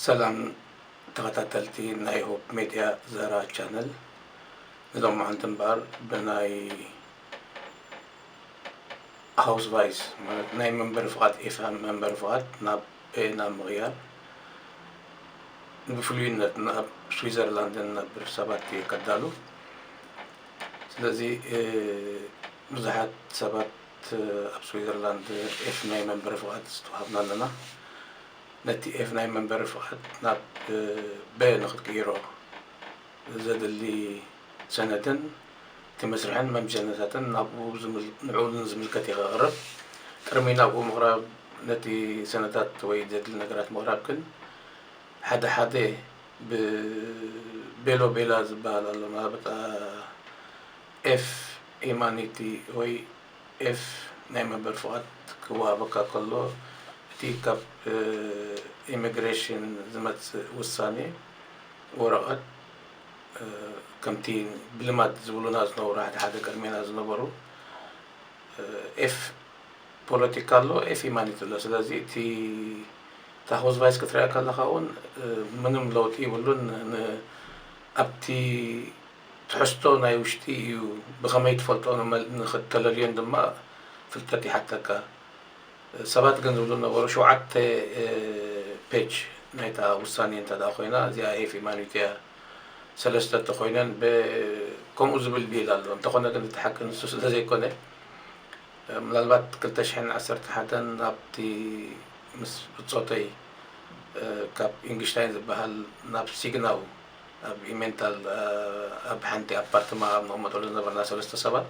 ሰላም ተኸታተልቲ ናይ ሆፕ ሜድያ ዘራ ቻነል ንሎማዓንቲ እምበኣር ብናይ ሃውስ ቫይስ ማለት ናይ መንበሪ ፍቓድ ኤፋን መንበሪ ፍቓድ ናብ ናብ ምቕያር ብፍሉይነት ናብ ስዊዘርላንድን ንነብር ሰባት እየ ከዳሉ ስለዚ ብዙሓት ሰባት ኣብ ስዊዘርላንድ ኤፍ ናይ መንበሪ ፍቓድ ዝተዋሃብና ኣለና ነቲ ኤፍ ናይ መንበሪ ፍቓድ ናብ በ ንክትቅይሮ ዘድሊ ሰነድን እቲ መስርሕን መምዘኒታትን ናብኡ ንዕኡ ንዝምልከት ኢኻ ቅርብ። ቅርሚ ናብኡ ምቕራብ ነቲ ሰነዳት ወይ ዘድሊ ነገራት ምቕራብ ግን ሓደ ሓደ ብ ቤሎ ቤላ ዝበሃል ኣሎ መሃበጣ ኤፍ ሂማኒቲ ወይ ኤፍ ናይ መንበሪ ፍቓድ ክወሃበካ ከሎ እቲ ካብ ኢሚግሬሽን ዝመጽእ ውሳኔ ወረቐት ከምቲ ብልማድ ዝብሉና ዝነበሩ ሓደ ሓደ ቅድሜና ዝነበሩ ኤፍ ፖለቲካ ኣሎ ኤፍ ሂማኒቲ ኣሎ ስለዚ እቲ ታክስ ቫይስ ክትሪኣ ከለካ እውን ምንም ለውጢ ይብሉን ኣብቲ ትሕዝቶ ናይ ውሽጢ እዩ ብከመይ ትፈልጦ ንክተለልዮን ድማ ፍልጠት ይሓተካ ሰባት ግን ዝብሉ ዝነበሩ ሸውዓተ ፔጅ ናይታ ውሳኔ እንተ ኮይና እዚኣ ኤፍ ኢማኒቱ እያ ሰለስተ እንተ ኮይነን ብ ከምኡ ዝብል ቢል ኣሎ እንተ ኮነ ግን እቲ ሓቂ ንሱ ስለ ዘይኮነ ምናልባት ክልተ ሽሕን ዓሰርተ ሓደን ኣብቲ ምስ ብጾተይ ካብ ኢንግሽታይን ዝበሃል ናብ ሲግናው ኣብ ኢሜንታል ኣብ ሓንቲ ኣፓርትማ ኣብ ንቕመጠሉ ዝነበርና ሰለስተ ሰባት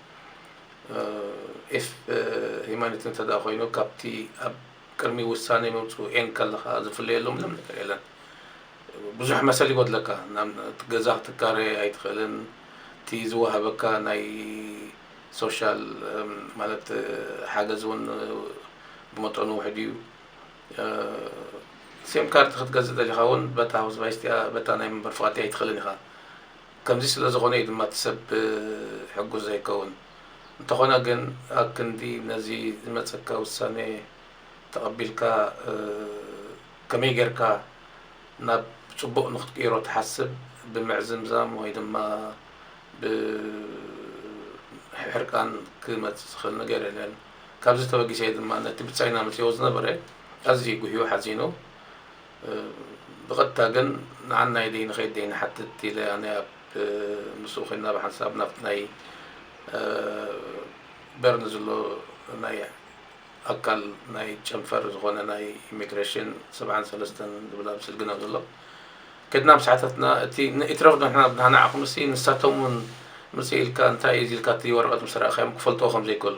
ኤስፕ ሂማኒቲ እንተ ደኣ ኮይኑ ካብቲ ኣብ ቅድሚ ውሳኔ ምምጽኡ ኤን ከለኻ ዝፍለየሉ ምንም ነገር የለን። ብዙሕ መሰል ይጎድለካ ናብ ገዛ ክትካረየ ኣይትኽእልን እቲ ዝወሃበካ ናይ ሶሻል ማለት ሓገዝ እውን ብመጠኑ ውሕድ እዩ። ሴም ካርድ ክትገዝእ ደሊኻ እውን በታ ሃውስ ቫይስቲኣ በታ ናይ መንበር ፍቓድቲኣ ኣይትኽእልን ኢኻ። ከምዚ ስለ ዝኾነ እዩ ድማ እቲ ሰብ ሕጉስ ዘይከውን። እንተኾነ ግን ኣብ ክንዲ ነዚ ዝመጸካ ውሳኔ ተቐቢልካ ከመይ ጌርካ ናብ ጽቡቕ ንኽትቅይሮ ትሓስብ ብምዕዝምዛም ወይ ድማ ብምሕርቃን ክመጽእ ዝኽእል ነገር የለን። ካብዚ ተበጊሰ እዩ ድማ ነቲ ብጻይና መጺእዎ ዝነበረ ኣዝዩ ጉህዩ ሓዚኑ። ብቐጥታ ግን ንዓናይ ደይ ንኸይድ ደይ ንሓትት ኢለ ኣነ ኣብ ምስኡ ኮይና ብሓንሳብ ናብቲ ናይ በርን ዝሎ ናይ ኣካል ናይ ጨንፈር ዝኾነ ናይ ኢሚግሬሽን ሰብዓን ሰለስተን ዝብል ኣብ ስልግን ኣብ ዘሎ ከድና ምስ ሓተትና እቲ ንኢትረፍ ንሕና ብናናዕኹምሲ ንሳቶም እውን ምጽእ ኢልካ እንታይ እዩ ኢልካ እቲ ወረቐት ምስ ረኣኻዮም ክፈልጥዎ ከም ዘይከሉ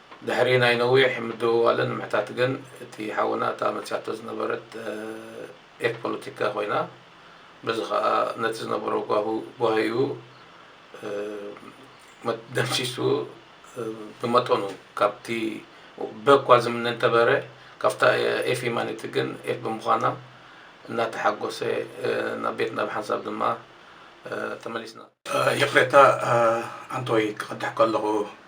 ድሕሪ ናይ ነዊሕ ምድውዋልን ምሕታት ግን እቲ ሓውና እታ መጺኣቶ ዝነበረት ኤፍ ፖለቲካ ኮይና በዚ ከኣ ነቲ ዝነበሮ ጓሁ ጓሂኡ ደምሲሱ ብመጠኑ ካብቲ በ እኳ ዝምነ እንተበረ ካብታ ኤፍ ሂማኒቲ ግን ኤፍ ብምዃና እናተሓጎሰ ናብ ቤትና ብሓንሳብ ድማ ተመሊስና። ይቕሬታ ኣንቶይ ክቐድሕ ከለኹ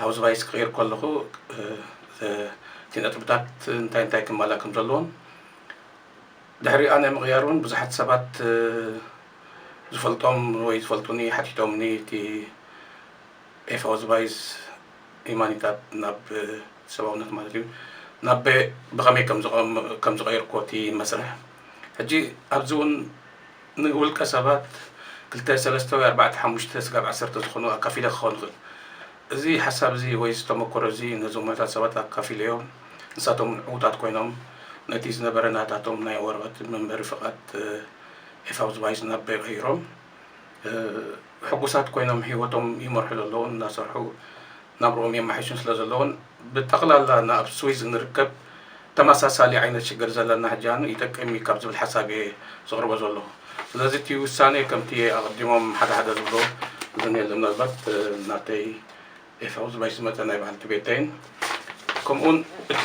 ሃውስ ቫይስ ክቕይር ከለኹ እቲ ነጥብታት እንታይ እንታይ ክማላ ከም ዘለዎም ድሕሪኣ ናይ ምቕያር እውን ብዙሓት ሰባት ዝፈልጦም ወይ ዝፈልጡኒ ሓቲቶምኒ እቲ ኤፍ ሃውስ ቫይስ ሂማኒታት ናብ ሰብኣውነት ማለት እዩ ናብ ብኸመይ ከም ዝቐየርኩዎ እቲ መስርሕ ሕጂ ኣብዚ እውን ንውልቀ ሰባት ክልተ ሰለስተ ወይ ኣርባዕተ ሓሙሽተ ስጋብ ዓሰርተ ዝኾኑ ኣካፊለ ክኸውን ይኽእል። እዚ ሓሳብ እዚ ወይ እዚ ተመኮሮ እዚ ነዞም ውሑዳት ሰባት ኣካፊለዮም ንሳቶም እውን ዕውታት ኮይኖም ነቲ ዝነበረ ናታቶም ናይ ወረቐት መንበሪ ፍቓድ ኤፋውዝቫይዝ ናብ በይቕ ኣዩሮም ሕጉሳት ኮይኖም ህይወቶም ይመርሑ ዘለዉን እናሰርሑ ናብርኦም የማሕይሹን ስለዘለዉን ብጠቕላላ ንኣብ ስዊዝ እንርከብ ተመሳሳሊ ዓይነት ሽግር ዘለና ሕጃኑ ይጠቅም እዩ ካብ ዝብል ሓሳብ እየ ዘቕርቦ ዘለኹ ስለዚ እቲ ውሳኔ ከምቲ ኣቐዲሞም ሓደ ሓደ ዝብሎ ዝን የለን ምናልባት ናተይ ኤፋውዝ ባይስመተ ናይ በዓልቲ ቤተይን ከምኡውን እቲ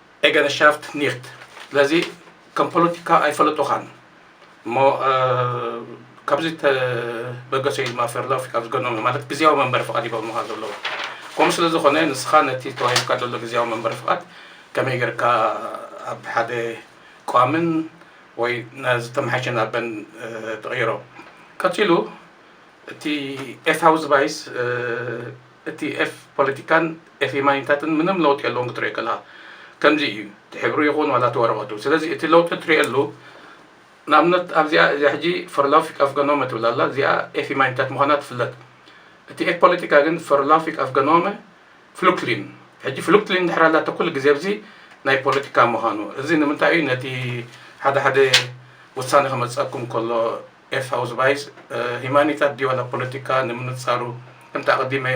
ኤገረሻፍት ኒክት ስለዚ ከም ፖለቲካ ኣይፈለጡኻን እሞ ካብዚ ተበገሰ ኢዩ ድማ ፌርሎፍ ካብ ዝገኖም ማለት ግዜያዊ መንበሪ ፍቓድ ይገብሩኻ ዘለዉ ከምኡ ስለ ዝኾነ ንስኻ ነቲ ተዋሂብካ ዘሎ ግዜያዊ መንበሪ ፍቓድ ከመይ ጌርካ ኣብ ሓደ ቋምን ወይ ዝተመሓሸ ናበን ትቕይሮ ቀጺሉ እቲ ኤታውዝባይስ እቲ ኤፍ ፖለቲካን ኤፍ የማኒታትን ምንም ለውጢ የለዎን ክትሪኦ ከለካ ከምዚ እዩ እቲ ሕብሩ ይኩን ዋላ እቲ ወረቀቱ ስለዚ እቲ ለውጢ ትሪኤሉ ንኣብነት ኣብዚኣ እዚኣ ሕጂ ፈርላውፊክ ኣፍገኖመ ትብል ኣላ እዚኣ ኤፍ የማኒታት ምኳና ትፍለጥ እቲ ኤፍ ፖለቲካ ግን ፈርላውፊክ ኣፍገኖመ ፍሉክትሊን ሕጂ ፍሉክትሊን እንድሕር ኣላቶ ኩሉ ግዜ ኣብዚ ናይ ፖለቲካ ምኳኑ እዚ ንምንታይ እዩ ነቲ ሓደ ሓደ ውሳነ ክመፀኩም ከሎ ኤስ ኣውዝባይስ ሂማኒታት ዲዋ ናብ ፖለቲካ ንምንጻሩ ከምቲ ኣቐዲመ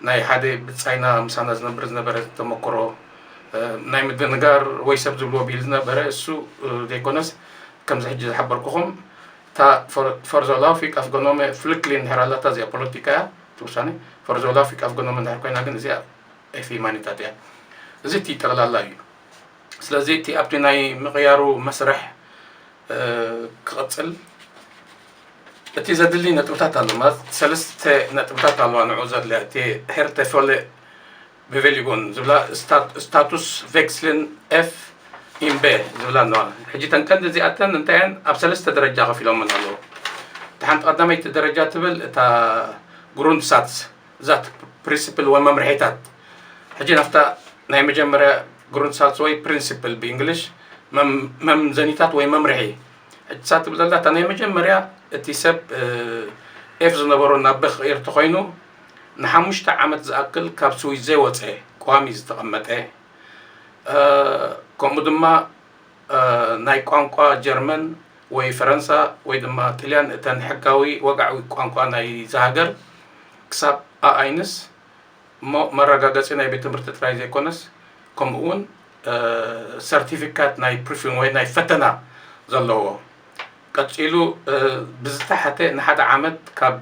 ናይ ሓደ ብጻይና ምሳና ዝነብር ዝነበረ ተመክሮ ናይ ምድንጋር ወይ ሰብ ዝብልዎ ቢል ዝነበረ እሱ ዘይኮነስ ከምዚ ሕጂ ዝሓበርኩኹም እታ ፈርዞላፊክ ኣፍገኖመ ፍልክሊን ድሕር ኣላታ እዚኣ ፖለቲካ እያ እቲ ውሳኔ ፈርዞላፊክ ኣፍገኖመ ድሕር ኮይና ግን እዚኣ ኤፍ ሂማኒታት እያ እዚ እቲ ጠቕላላ እዩ ስለዚ እቲ ኣብቲ ናይ ምቕያሩ መስርሕ ክቕጽል እቲ ዘድሊ ነጥብታት ኣሎ ማለት ሰለስተ ነጥብታት ኣለዋ ንዑ ዘድልያ እቲ ሄርተ ፎለ ብቬሊጎን ዝብላ ስታቱስ ቬክስልን ኤፍ ኢምበ ዝብላ ኣለዋ ሕጂ ተን ቀንዲ እዚኣተን እንታየን ኣብ ሰለስተ ደረጃ ከፊሎምን ኣለዉ እቲ ሓንቲ ቀዳመይቲ ደረጃ ትብል እታ ግሩንድ ሳትስ እዛ ፕሪንስፕል ወይ መምርሒታት ሕጂ ናፍታ ናይ መጀመርያ ግሩንትሳልስ ወይ ፕሪንስፕል ብእንግሊሽ መምዘኒታት ወይ መምርሒ ሕጂ ሳብ ትብል ዘላ እታ ናይ መጀመርያ እቲ ሰብ ኤፍ ዝነበሮ ናብ በ ክቕይር እንተኾይኑ ንሓሙሽተ ዓመት ዝኣክል ካብ ስዊዝ ዘይወፀ ቋሚ ዝተቐመጠ ከምኡ ድማ ናይ ቋንቋ ጀርመን ወይ ፈረንሳ ወይ ድማ ጥልያን እተን ሕጋዊ ወግዓዊ ቋንቋ ናይዛ ሃገር ክሳብ ኣኣይንስ እሞ መረጋገጺ ናይ ቤት ትምህርቲ ጥራይ ዘይኮነስ ከምኡ ውን ሰርቲፊካት ናይ ፕሪፊን ወይ ናይ ፈተና ዘለዎ ቀጺሉ ብዝተሓተ ንሓደ ዓመት ካብ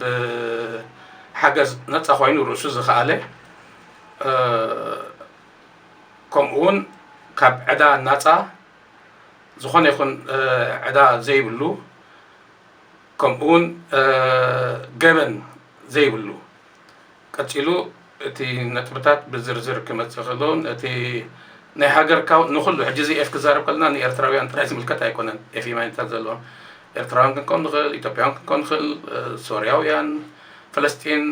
ሓገዝ ነጻ ኮይኑ ርእሱ ዝኸኣለ ከምኡ ውን ካብ ዕዳ ናፃ ዝኾነ ይኹን ዕዳ ዘይብሉ ከምኡ ውን ገበን ዘይብሉ ቀፂሉ እቲ ነጥብታት ብዝርዝር ክመፅእ ክእሎ እቲ ናይ ሃገርካ ንኩሉ ሕጂ እዚ ኤፍ ክዛረብ ከለና ንኤርትራውያን ጥራይ ዝምልከት ኣይኮነን ኤፍ ኢማይነታት ዘለዎም ኤርትራውያን ክንከውን ንኽእል ኢትዮጵያውያን ክንከውን ንኽእል ሶርያውያን ፈለስጢን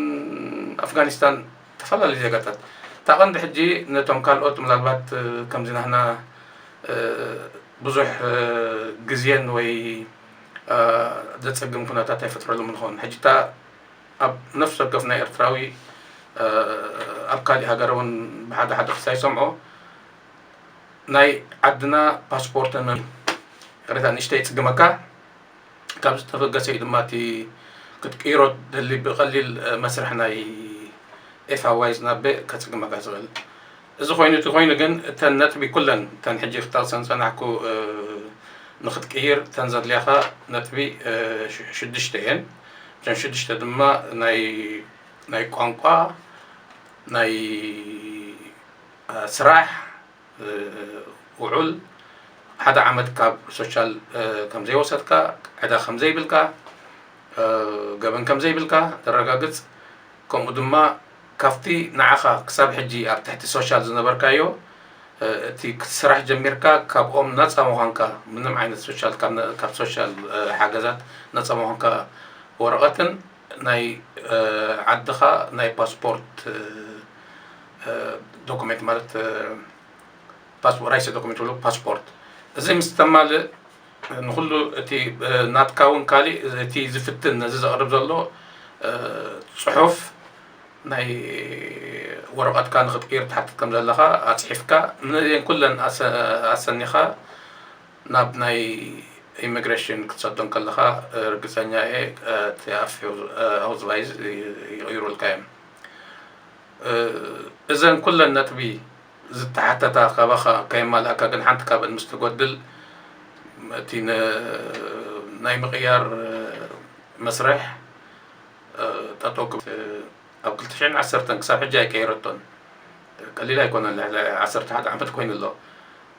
ኣፍጋኒስታን ተፈላለዩ ዜጋታት እታ ቀንዲ ሕጂ ነቶም ካልኦት ምናልባት ከምዚ ናህና ብዙሕ ግዜን ወይ ዘጸግም ኩነታት ኣይፈጥረሎምን ይኸውን ሕጂ እታ ኣብ ነፍሲ ወከፍ ናይ ኤርትራዊ ኣብ ካሊእ ሃገር እውን ብሓደ ሓደ ክሳይ ሰምዖ ናይ ዓድና ፓስፖርት ሪታ ንእሽተይ ይጽግመካ ካብ ዝተበገሰ እዩ ድማ እቲ ክትቅይሮ ትደሊ ብቀሊል መስርሕ ናይ ኤፋዋይዝ ናብ ከጽግመካ ዝክእል እዚ ኮይኑ እቲ ኮይኑ ግን እተን ነጥቢ ኩለን እተን ሕጂ ክጠቅሰን ዝጸናሕኩ ንክትቅይር እተን ዘድልያካ ነጥቢ ሽዱሽተ እየን እተን ሽዱሽተ ድማ ናይ ናይ ቋንቋ ናይ ስራሕ ውዑል ሓደ ዓመት ካብ ሶሻል ከምዘይወሰድካ ዕዳ ከምዘይብልካ ገበን ከምዘይብልካ ተረጋግፅ ከምኡ ድማ ካብቲ ንዓኻ ክሳብ ሕጂ ኣብ ትሕቲ ሶሻል ዝነበርካዮ እቲ ክትስራሕ ጀሚርካ ካብኦም ነፃ ምዃንካ ምንም ዓይነት ሶሻል ካብ ሶሻል ሓገዛት ነፃ ምዃንካ ወረቐትን ናይ ዓድኻ ናይ ፓስፖርት ዶኩሜንት ማለት ራይሰ ዶኩሜንት ዝብሉ ፓስፖርት እዚ ምስ ተማልእ ንኩሉ እቲ ናትካ እውን ካሊእ እቲ ዝፍትን ነዚ ዘቕርብ ዘሎ ፅሑፍ ናይ ወረቐትካ ንክትቅይር ትሓትት ከም ዘለኻ ኣፅሒፍካ ነዚኤን ኩለን ኣሰኒኻ ናብ ናይ ኢሚግረሽን ክትሰዶ እንከለኻ ርግጸኛ እየ እቲ ኣውስቫይዝ ይቕይሩልካ እዮም። እዘን ኩለን ነጥቢ ዝተሓተታ ካባኻ ከየማላእካ ግን ሓንቲ ካብን ምስ ትጎድል እቲ ናይ ምቕያር መስርሕ ጠጠው ክብል ኣብ ክልተ ሽሕን ዓሰርተን ክሳብ ሕጂ ኣይቀየረቶን ቀሊል ኣይኮነን ልዕሊ ዓሰርተ ሓደ ዓመት ኮይኑ ኣሎ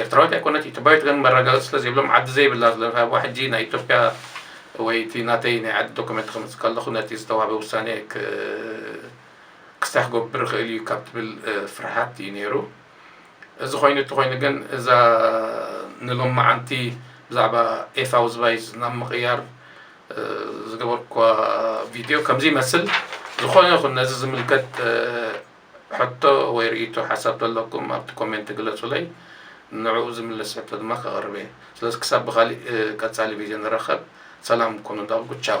ኤርትራዊት ኣይኮነት ኢትዮፕያዊት ግን መረጋገጺ ስለ ዘይብሎም ዓዲ ዘይብላ ዝለፋዋ ሕጂ ናይ ኢትዮፕያ ወይ እቲ ናተይ ናይ ዓዲ ዶኩመንት ክምጽእ ከለኹ ነቲ ዝተዋህበ ውሳኔ ክስታይ ክገብር ይኽእል እዩ ካብ ትብል ፍርሃት እዩ ነይሩ እዚ ኮይኑ እቲ ኮይኑ ግን እዛ ንሎም መዓንቲ ብዛዕባ ኤፋው ዝባይዝ ናብ ምቕያር ዝገበርኳ ቪድዮ ከምዚ ይመስል ዝኾነ ይኹን ነዚ ዝምልከት ሕቶ ወይ ርእይቶ ሓሳብ ተለኩም ኣብቲ ኮሜንት ግለጹለይ ንዕኡ ዝምልስ ሕቶ ድማ ከቅርብ እየ ስለዚ ክሳብ ብካሊእ ቀጻሊ ቪድዮ ንራከብ ሰላም ኩኑ እንዳበልኩ ቻው።